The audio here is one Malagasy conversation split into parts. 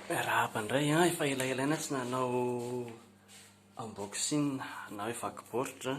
Miarahaba indray an, efa elaelaina tsy nanao unboxing na hoe vaky baoritra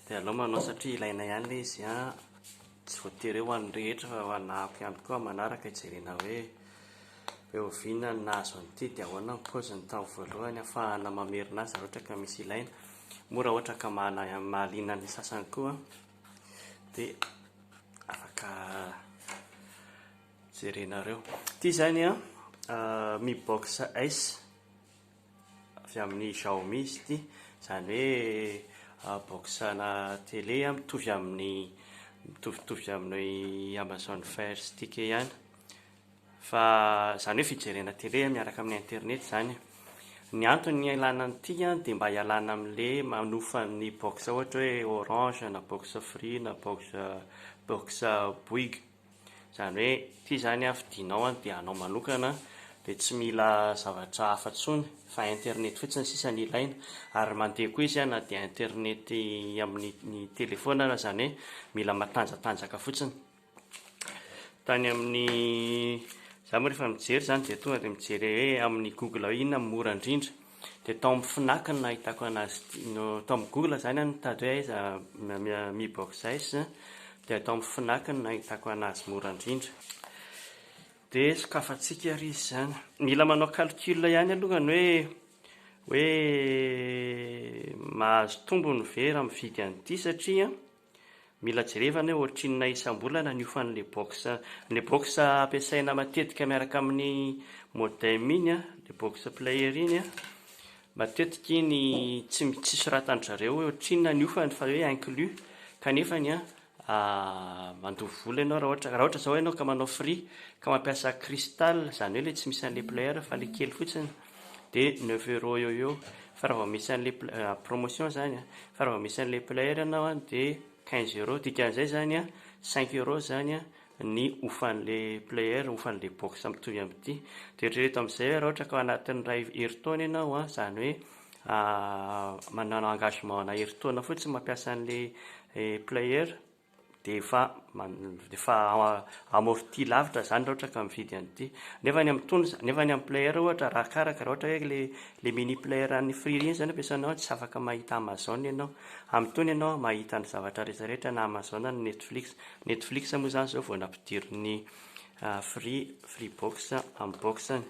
dia aleo manao satria ilaina ihany ilay izy an, tsy voatery hoe ho an'ny rehetra fa ho anà hafa ihany koa amin'ny manaraka hijerena hoe oviana ny nahazo an'ity dia ahoana ny paoziny tamin'ny voalohany hahafahana mamerina azy raha ohatra ka misy ilaina, moa raha ohatra ka mahaliana ny sasany koa an. dia afaka jerenareo ity zany a ah, mi box s avy amin'ny Xiaomi izy ity zany hoe ah, boxana télé a mitovy amin'ny mitovitovy amin'ny Amazon Fire Stick ihany Fa izany hoe fijerena télé miaraka amin'ny internet izany e. Ny antony ialana an'ity an dia mba ialana amin'le manofa ny box ohatra hoe orange na box free na box box bouygues. Izany hoe ity izany an fidinao an dia anao manokana dia tsy mila zavatra hafa intsony fa internet fotsiny sisa no ilaina ary mandeha koa izy an na dia internet amin'ny ny telephone aza izany hoe mila matanjatanjaka fotsiny. Tany amin'ny za moa rehefa mijery zany dia tonga dia mijery hoe amin'ny google hoe inona no mora indrindra dia tao amin'ny fnac no nahitako anazy no tao amin'ny google zany aho nitady hoe aiza mi boxers dia tao amin'ny fnac no nahitako anazy mora indrindra dia sokafantsika ary izy zany mila manao calcul ihany aloha ny hoe hoe mahazo tombony ve raha mividy an'ity satria Mila jerevana hoe ohatrinona isam-bolana ny hofan'ilay box. Ilay box ampiasaina matetika miaraka amin'ny modem iny, ilay box player iny, matetika iny tsy tsy soratan-dry zareo hoe ohatrinona ny hofany fa hoe inclus kanefa ny mandoa vola ianao raha ohatra raha ohatra izao ianao ka manao free ka mampiasa crystal izany hoe ilay tsy misy an'ilay player fa ilay kely fotsiny. dia neuf euros eo eo fa raha vao misy an'ilay promotion zany fa raha vao misy an'ilay player ianao dia quinze euros dikan'izay zany a cinq euros zany a ny ofan'ilay player ofan'ilay box mitovy amin'ity dia eritrereto amin'izay raha ohatra ka ao anatin'ny iray herintaona ianao a zany hoe manana engagement ana herintaona fotsiny mampiasa an'ilay player dia efa efa amorti lavitra izany raha ohatra ka mividy an'ity, nefa any amin'ny tony, nefa any amin'ny player ohatra arakaraka, raha ohatra hoe ilay ilay mini player an'ny free iny izany ampiasainao dia tsy afaka mahita amazon ianao, amin'ny tony ianao mahita ny zavatra rehetra rehetra na amazon na netflix, netflix moa izany izao vao nampidirin'ny free free box amin'ny box-ny,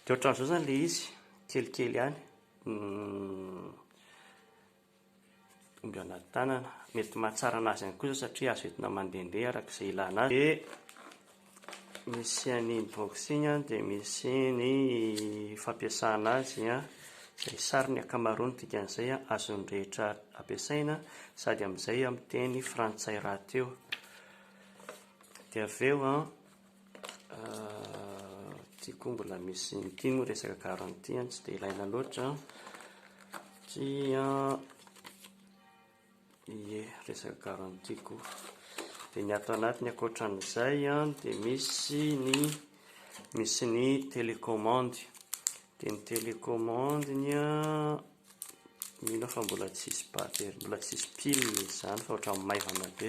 dia ohatran'izao izany ilay izy, kelikely ihany. Dongana tanana, mety mahatsara an'azy ihany koa izao satria azo entina mandehandeha araka izay ilana azy. Dia misy an' ny boxing an, dia misy ny fampiasana azy an, izay sary ny ankamaroany ny dikan'izay an, azon'ny rehetra ampiasaina sady amin'izay amin'ny teny frantsay rahateo. Dia avy eo an. Tiako mbola misy inty moa resaka garantie tsy dia ilaina loatra satria ie resaka garantie koa dia ny ato anatiny ankoatra an'izay dia misy ny misy ny telecommande dia ny telecommande ny a mino fa mbola tsy hisy batterie mbola tsy hisy pile izany fa ohatran'ny maivana be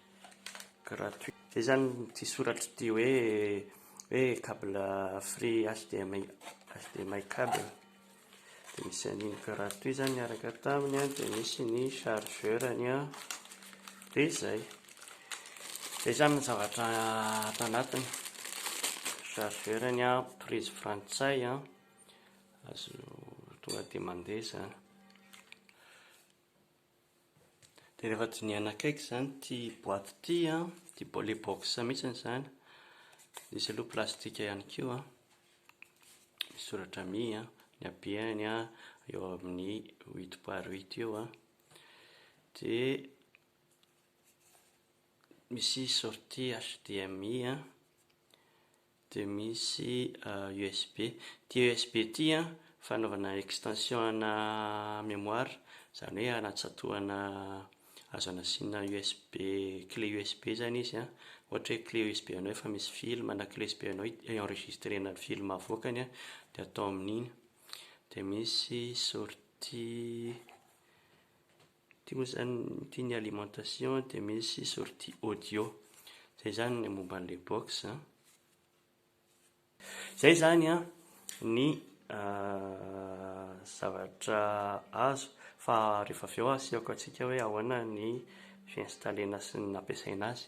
gratuit zay zany ity soratra ity hoe hoe cable free HDMI HDMI cable dia misy an'iny gratuit zany miaraka taminy an dia misy ny chargeur ny an dia zay zay zany ny zavatra ato anatiny chargeur ny an prise frantsay an azo tonga dia mandeha zany Dia rehefa dinihana akaiky izany ity boaty ity an, ity ilay box mihitsiny izany, misy aloha plastika ihany koa an, misy soratra mi an, ny habeny an, eo amin'ny huit par huit eo an, dia misy sortie HDMI an. dia misy usb, ity usb ity an fanaovana extension ana mémoire izany hoe anatsatohana azo anasiana usb clé usb izany izy an, ohatra hoe clé usb anao efa misy film na clé usb anao enregistrena ny film avoakany an dia atao amin'iny, dia misy sortie Ity moa izany, ity ny alimentation dia misy sortie audio. Izay izany ny momba an'ilay box. Izay izany an, ny zavatra azo. Fa rehefa avy eo asehoko antsika hoe ahoana ny fi-installer-na sy ny nampiasaina azy.